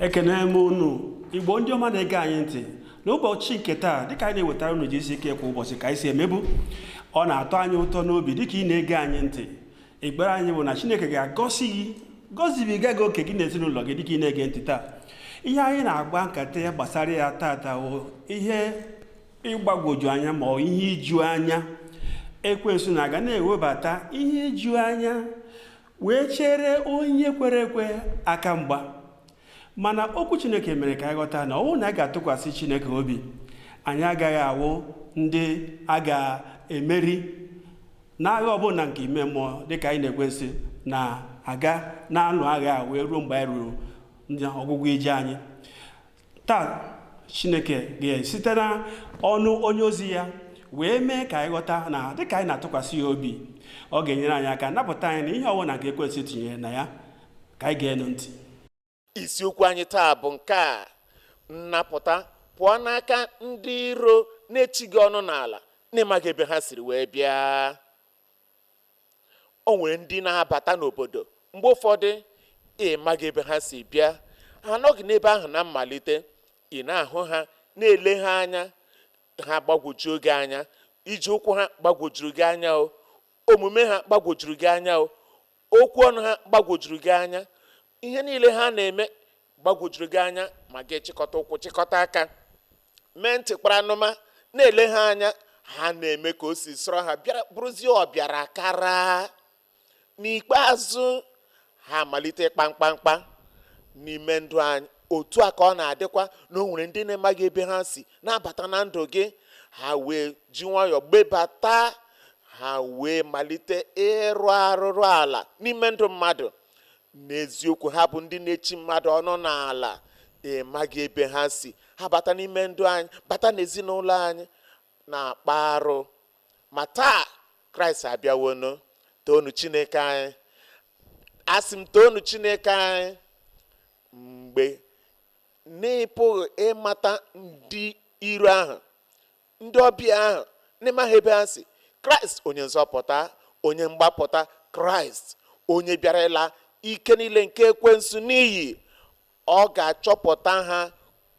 ekene m unu igbo ndị ọma na-ege anyị ntị n'ụbọchị nke taa dịka anyị na-ewetara unu gck kwa ụbọchị ka anyị si emebu ọ na-atọ anyị ụtọ n'obi dịka ị na-ege anyị ntị ekpere anyị bụ na chineke ga-agọzi gị gọzibiga gị oke gị na ezinụlọ gị dịka ị na-ege ntị taa ihe anyị na-akpa nkata ya gbasara ya tata bụ ihe ịgbagwoju anya ma ọ ihe iju anya ekwensu na-aga na-ewebata ihe iju anya wee chere onye kwere ekwe aka mgba mana okwu chineke mere ka anyị ghọta na ọ wụ na a ga-atụkwasị chineke obi anyị agaghị awụ ndị a ga-emeri n'agha ọbụla nke ime mmụọ dịka anyị na ekwensu na-aga na-alụ agha wee ruo mgbe anyị ruru ọgwụgwụ ije anyị taa chineke ga-esite na ọnụ onye ozi ya wee mee ka anyị ghọta na dịka anyị na-atụkwasị ya obi ọ ga-enyere anyị aka napụta anyị na ihe ọbụla nke ekwensu tinyere na ya ka anyị geenụ ntị isiokwu anyị taa bụ nke a nnapụta pụọ n'aka ndị iro na-echi gị ọnụ n'ala n'ịmaghị ebe ha siri wee bịa o nwere ndị na-abata n'obodo mgbe ụfọdụ ị maghị ebe ha si bịa ha anọghị n'ebe ahụ na mmalite ị na-ahụ ha na-ele ha anya ha gbagwojuo gị anya ije ụkwụ ha gbagwojuru gị anya o omume ha gbagwojuru gị anya o Okwu ọnụ ha gbagwojuru gị anya. Ihe niile ha na-eme gbagwojuru gị anya, ma gị chịkọta ụkwụ chịkọta aka, mee ntị kpara anụma, na-ele ha anya. Ha na-eme ka o si sọrọ ha bịara bụrụzie ọbịara kara. N'ikpeazụ, ha amalite ịkpa mkpamkpa n'ime ndụ anyị. Otu a ka ọ na-adịkwa na o nwere ndị n'ịmaghị ebe ha si na-abata na ndụ gị, ha wee ji nwayọọ gbebata, ha wee malite ịrụ arụrụ ala n'ime ndụ mmadụ. N'eziokwu, ha bụ ndị na-echi mmadụ ọnụ n'ala, ịmaghị ebe ha si, ha bata n'ime ndụ anyị, bata n'ezinụlọ anyị, na-akpa arụ. Ma taa, Kraịst abịawonu, toonu Chineke anyị. Asị m toonu Chineke anyị mgbe n'ịpụghị ịmata ndị iro ahụ, ndị ọbịa ahụ, n'ịmaghị ebe ha si. Kraịst onye nzọpụta, onye mgbapụta, Kraịst onye bịara ịla ike niile nke ekwensu n'iyi. Ọ ga-achọpụta ha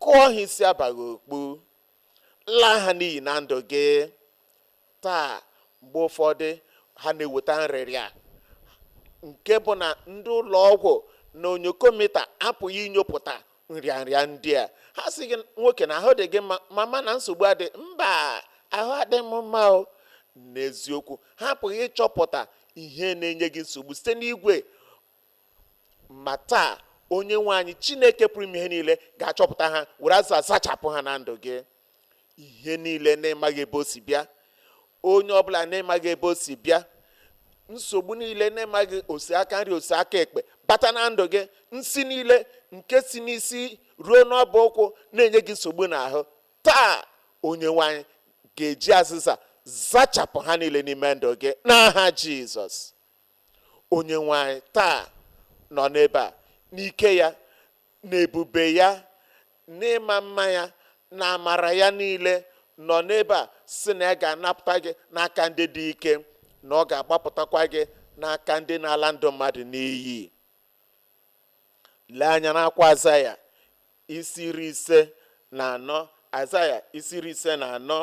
kụọ ha isi abaghị okpu, laa ha n'iyi na ndụ gị. Taa, mgbe ụfọdụ, ha na-eweta nrịrịa nke bụ na ndị ụlọ ọgwụ na onyokomita apụghị inyopụta nrịanrịa ndị a. Ha sị gị, Nwoke, na ahụ dị gị mma, mama, na nsogbu adịghị. Mba, ahụ adịghị m mma o. N'eziokwu, ha apụghị ịchọpụta ihe na-enye gị nsogbu site n'igwe Ma taa, Onyenwe anyị Chineke pụrụ ime ihe niile ga-achọpụta ha were azịza zachapụ ha na ndụ gị. Ihe niile na ị maghị ebe o si bịa, onye ọbụla na ị maghị ebe o si bịa, nsogbu niile na ị maghị o si aka nri o si aka ekpe bata na ndụ gị, nsi niile nke si n'isi ruo n'ọbụ ụkwụ na-enye gị nsogbu n'ahụ. Taa, Onyenwe anyị ga-eji azịza zachapụ ha niile n'ime ndụ gị n'aha Jizọs. Onyenwe anyị taa nọ n'ebe a, n'ike ya, n'ebube ya, n'ịma mma ya, na amara ya niile nọ n'ebe a sị na ya ga-anapụta gị n'aka ndị dị ike, na ọ ga-agbapụtakwa gị n'aka ndị na-ala ndụ mmadụ n'iyi. Lee anya n'akwụkwọ Azaya isi iri ise na anọ Azaya isi iri ise na anọ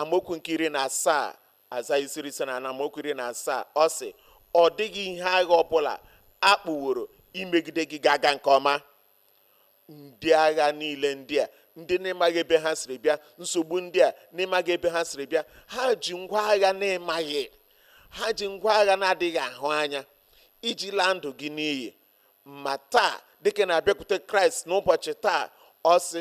amaokwu nke iri na asaa Azaya isi iri ise na anọ amaokwu iri na asaa ọ sị ọ dịghị ihe agha ọbụla a kpụworo imegide gị ga-aga nke ọma ndị agha niile ndị a ndị na ị maghị ebe ha siri bịa nsogbu ndị a na ị maghị ebe ha siri bịa ha ji ngwa agha na ị maghị ha ji ngwa agha na-adịghị ahụ anya iji laa ndụ gị n'iyi ma taa dịka ị na-abịakwute kraịst n'ụbọchị taa ọ sị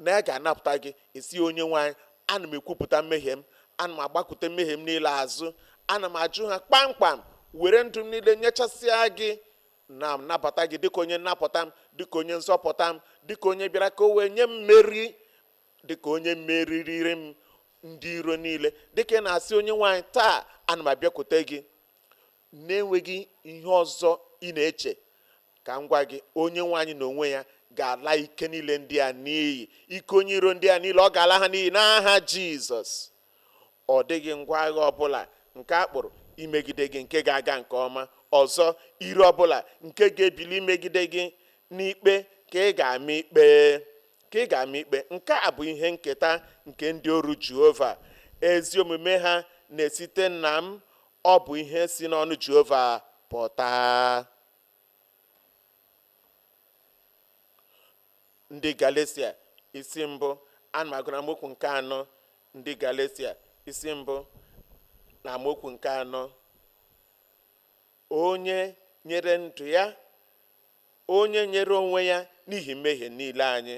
na ya ga-anapụta gị ị sị Onyenwe anyị ana m ekwupụta mmehie m ana m agbakụte mmehie m niile azụ ana m ajụ ha kpamkpam were ndụ m niile nyechasịa gị na-anabata gị dịka onye nnapụta m dịka onye nzọpụta m dịka onye bịara ka o wee nye m mmeri dịka onye meriiri m ndị iro niile dịka ị na-asị Onyenwe anyị taa ana m abịakwute gị Na-enweghị ihe ọzọ ị na-eche, ka m gwa gị, Onyenwe anyị n'onwe ya ga-ala ike niile ndị a n'iyi. Ike onye iro ndị a niile, ọ ga-ala ha n'iyi n'aha Jizọs. Ọ dịghị ngwa agha ọ bụla nke a kpụrụ imegide gị nke ga-aga nke ọma. Ọzọ, ire ọ bụla nke ga-ebili imegide gị n'ikpe ka ị ga-ama ikpe. Ka ị ga-ama ikpe. Nke a bụ ihe nketa nke ndị oru Jehova. Ezi omume ha na-esite na m Ọ bụ ihe si n'ọnụ Jehova pụta. Ndị Galeshia isi mbụ ana m agụ na amaokwu nke anọ ndị Galeshia isi mbụ na amaokwu nke anọ onye nyere ndụ ya Onye nyere onwe ya n'ihi mmehie niile anyị.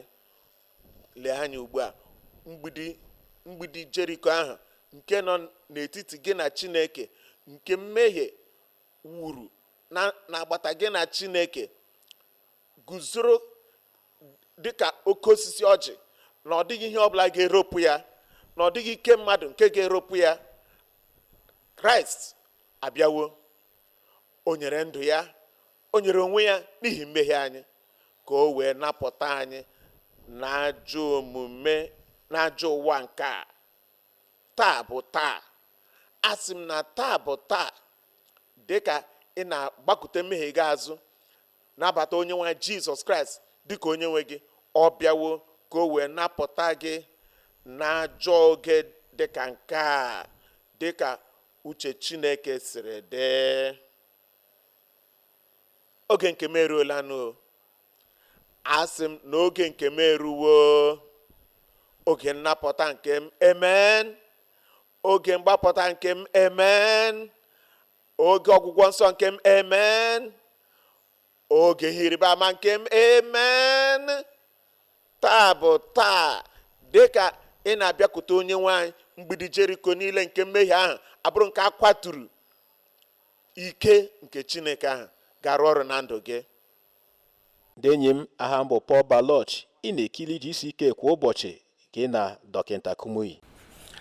Lee anya ugbu a, mgbidi Jeriko ahụ nke nọ n'etiti gị na Chineke, nke mmehie wuru n'agbata gị na Chineke, guzoro dị ka oke osisi ọjị, na ọ dịghị ihe ọbụla ga-eropụ ya, na ọ dịghị ike mmadụ nke ga-eropụ ya. Kraịst abịawo, o nyere ndụ ya O nyere onwe ya n'ihi mmehie anyị ka o wee napụta anyị n'ajọ omume n'ajọ ụwa nke a taa bụ taa asị m na taa bụ taa dịka ị na-agbakute mmehie gị azụ nabata onye nwe anyị jizọs kraịst dịka onye nwe gị ọ bịawo ka o wee napụta gị n'ajọ oge dịka nke a dịka uche chineke siri dị oge nke m eruolanụ o. asị m na oge nke m eruwo oge nnapụta nke m amen oge mgbapụta nke m amen oge ọgwụgwọ nsọ nke m amen oge ihe ịrịba ama nke m amen taa bụ taa dịka ị na-abịakwute onye nwe anyị mgbidi jeriko niile nke mmehie ahụ abụrụ nke a kwaturu ike nke Chineke ahụ ga-arụ ọrụ na ndụ gị ndị enyi m aha m bụ Paul Baloche ị na-ekiri GCK kwa ụbọchị gị na dọkịta Kumuyi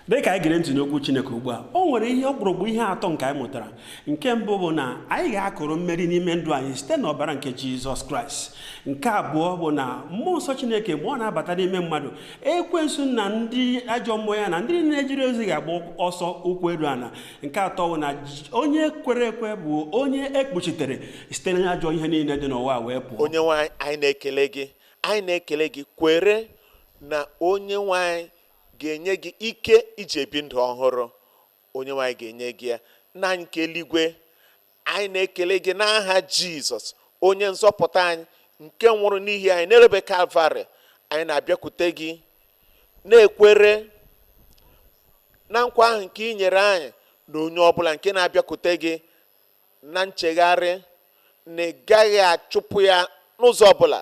dị ka anyị gere ntị n'okwu Chineke ugbu a o nwere ihe ọkpụrụkpụ ihe atọ nke anyị mụtara nke mbụ bụ na anyị ga-akụrụ mmeri n'ime ndụ anyị site n'ọbara nke Jizọs Kraịst nke abụọ bụ na mmụọ nsọ Chineke mgbe ọ na-abata n'ime mmadụ ekwensu na ndị ajọ mmụọ ya na ndị na-ejere ozi ga-agba ọsọ ụkwụ eru ala nke atọ bụ na onye kwere ekwe bụ onye e kpuchitere site na ajọ ihe niile dị n'ụwa wee pụọ onye nwe anyị anyị na-ekele gị anyị na-ekele gị kwere na onye nwe anyị ga-enye gị ike iji ebi ndụ ọhụrụ onye nwe anyị ga-enye gị ya nna anyị nke eluigwe anyị na-ekele gị n'aha jizọs onye nzọpụta anyị nke nwụrụ n'ihi anyị n'elu obe kalvarị anyị na-abịakwute gị na-ekwere na nkwa ahụ nke i nyere anyị na onye ọbụla nke na-abịakwute gị na nchegharị na ị gaghị achụpụ ya n'ụzọ ọbụla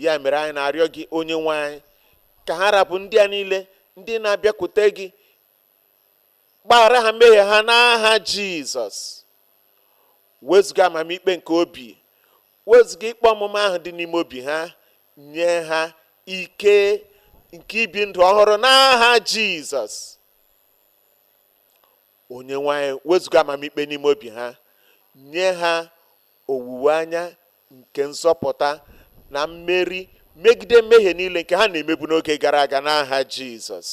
ya mere anyị na-arịọ gị onye nwe anyị ka ha ra bụ ndị a niile ndị na-abịakwute gị gbaghara ha mmehie ha n'aha jizọs wezuga amamikpe nke obi wezuga ikpe ọmụma ahụ dị n'ime obi ha nye ha ike nke ibi ndụ ọhụrụ n'aha jizọs onye nwe anyị wezuga amamikpe n'ime obi ha nye ha owuwe anya nke nzọpụta na mmeri megide mmehie niile nke ha na-emebu n'oge gara aga n'aha Jizọs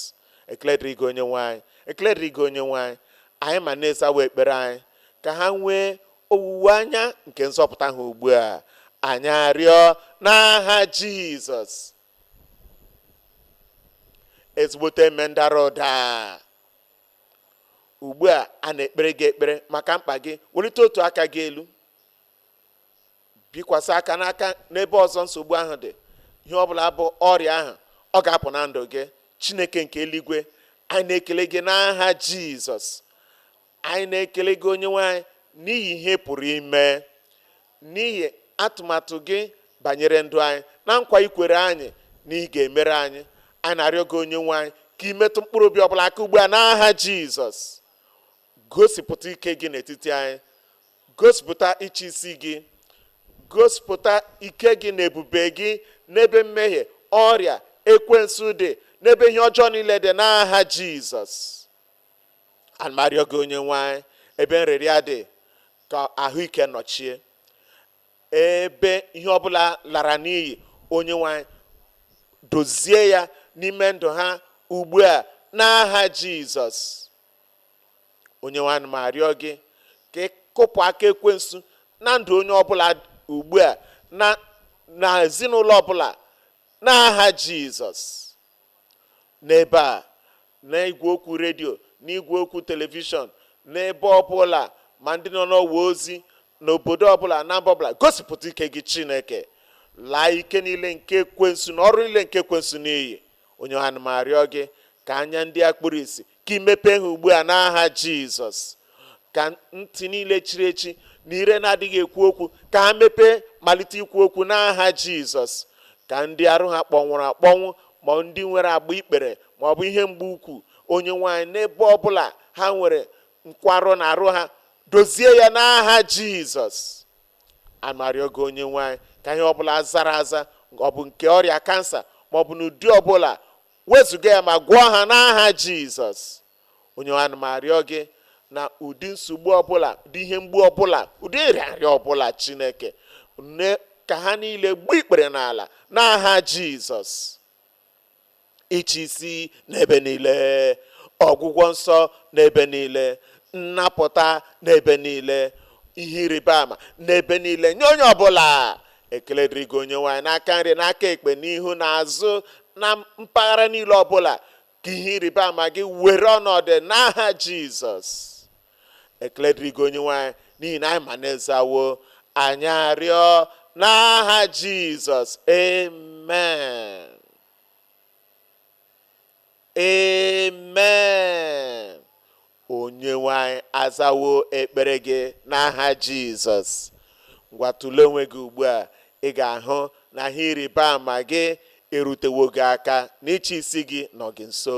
ekele dịrị gị onyenwe anyị ekele dịrị gị onyenwe anyị anyị ma na ị zawo ekpere anyị ka ha nwee owuwe anya nke nzọpụta ha ugbu a anyị arịọ n'aha Jizọs ezigbote emen dara ụda Ugbu a a na-ekpere gị ekpere maka mkpa gị, welite otu aka gị elu, bikwasị aka n'aka n'ebe ọzọ nsogbu ahụ dị. Ihe ọ bụla bụ ọrịa ahụ, ọ ga-apụ na ndụ gị. Chineke nke eluigwe, anyị na-ekele gị n'aha Jizọs. Anyị na-ekele gị Onyenwe anyị n'ihi ihe ị pụrụ ime. n'ihi atụmatụ Gị banyere ndụ anyị, na nkwa I kwere anyị na Ị ga-emere anyị. Anyị na-arịọ Gị, Onyenwe anyị, ka I metụ mkpụrụ obi ọbụla aka ugbu a n'aha Jizọs. Gosipụta ike Gị n'etiti anyị. Gosipụta ịchịisi Gị. Gosipụta ike Gị na ebube Gị n'ebe mmehie, ọrịa, ekwensu dị, n'ebe ihe ọjọọ niile dị n'aha Jizọs. ana m arịọ gị onyenwe anyị ebe nrịrịa dị ka ahụike nọchie ebe ihe ọbụla lara n'iyi onyenwe anyị dozie ya n'ime ndụ ha ugbu a n'aha jizọs onyenwe anyị ana m arịọ gị ka ị kụpụ aka ekwensu na ndụ onye ọbụla ugbu a na na ezinụlọ ọbụla n'aha jizọs n'ebe a, n'igwe okwu redio, n'igwe okwu telivishọn, n'ebe ọbụla, ma ndị nọ n'ọwa ozi, n'obodo ọbụla, na mba ọbụla, gosipụta ike gị Chineke. Laa ike niile nke ekwensu na ọrụ niile nke ekwensu n'iyi. Onyenwe anyị, ana m arịọ gị ka anya ndị a kpuru isi, ka ị mepee ha ugbu a n'aha jizọs ka ntị niile chiri echi na ire na-adịghị ekwu okwu ka ha mepee malite ikwu okwu n'aha jizọs ka ndị arụ ha kpọnwụrụ akpọnwụ ma ndị nwere agba ikpere ma ọ bụ ihe mgbu ukwu onyenwe anyị n'ebe ọbụla ha nwere nkwarụ na arụ ha dozie ya n'aha jizọs ana m arịọ gị onyenwe anyị ka ihe ọbụla zara aza ọ bụ nke ọrịa kansa ma ọ bụ n'ụdị ọbụla Wezụga ya ma gwọọ ha n'aha Jizọs. Onyenwe anyị ana m arịọ gị na ụdị nsogbu ọbụla, ụdị ihe mgbu ọbụla, ụdị nrịanrịa ọbụla Chineke, ka ha niile gbuo ikpere n'ala n'aha Jizọs. Ịchị isi n'ebe niile, ọgwụgwọ nsọ n'ebe niile, nnapụta n'ebe niile, ihe ịrịba ama n'ebe niile nye onye ọbụla Ekele dịrị gị Onyenwe anyị n'aka nri n'aka ekpe n'ihu na azụ na mpaghara niile ọbụla ka ihe ịrịba ama gị were ọnọdụ n'aha Jizọs ekele dịrị gị Onyenwe anyị n'ihi na anyị ma na ị zawo anyị arịọ n'aha Jizọs amen Amen! Onyenwe anyị azawo ekpere gị n'aha Jizọs. Ngwa tụlee onwe gị ugbu a, ị ga-ahụ na ihe ịrịba ama gị erutewo gị aka na GCK nọ gị nso.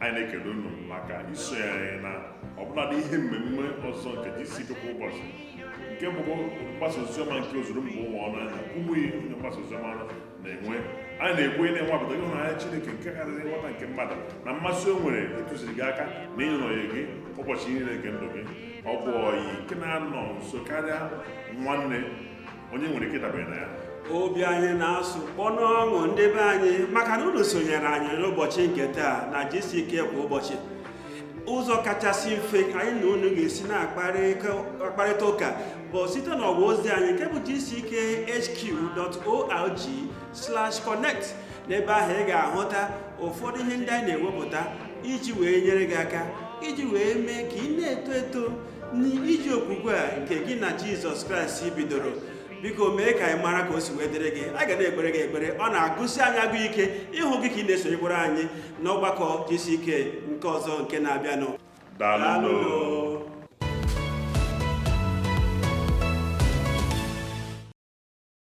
anyị na-ekele unu maka iso anyị na ọbụladị ihe mmemme ọzọ nke GCK kwa ụbọchị nke bụ mgbasa oziọma nke ozuru mba ụwa ọnụ anyị na Kumuyi onye mgbasa oziọma na-enwe anyị na-ekwu ị na-anwapụta ịhụnanya Chineke nke karịrị nghọta nke mmadụ na mmasị o nwere ịtụziri gị aka na ịnọnye gị ụbọchị niile nke ndụ gị ọ bụ ọyị nke na-anọ nso karịa nwanne onye nwere ike ịdabere na ya obi anyị na-asụ kpọ n'ọṅụ ndị be anyị maka na unu sonyere anyị n'ụbọchị nke taa na GCK kwa ụbọchị ụzọ kachasị mfe anyị na unu ga-esi na-akparịta ụka bụ site n'ọwa ozi anyị nke bụ gckhq.org/connect n'ebe ahụ ị ga-ahụta ụfọdụ ihe ndị anyị na-ewepụta iji wee nyere gị aka iji wee mee ka ị na-eto eto n'ije okwukwe a nke gị na jizọs kraịst bidoro biko mee ka anyị mara ka o si wee dịrị gị a ga na-ekpere gị ekpere ọ na-agụsi anyị agụ ike ịhụ gị ka ị na-esonyekwara anyị n'ọgbakọ GCK nke ọzọ nke na-abịanụ daalụ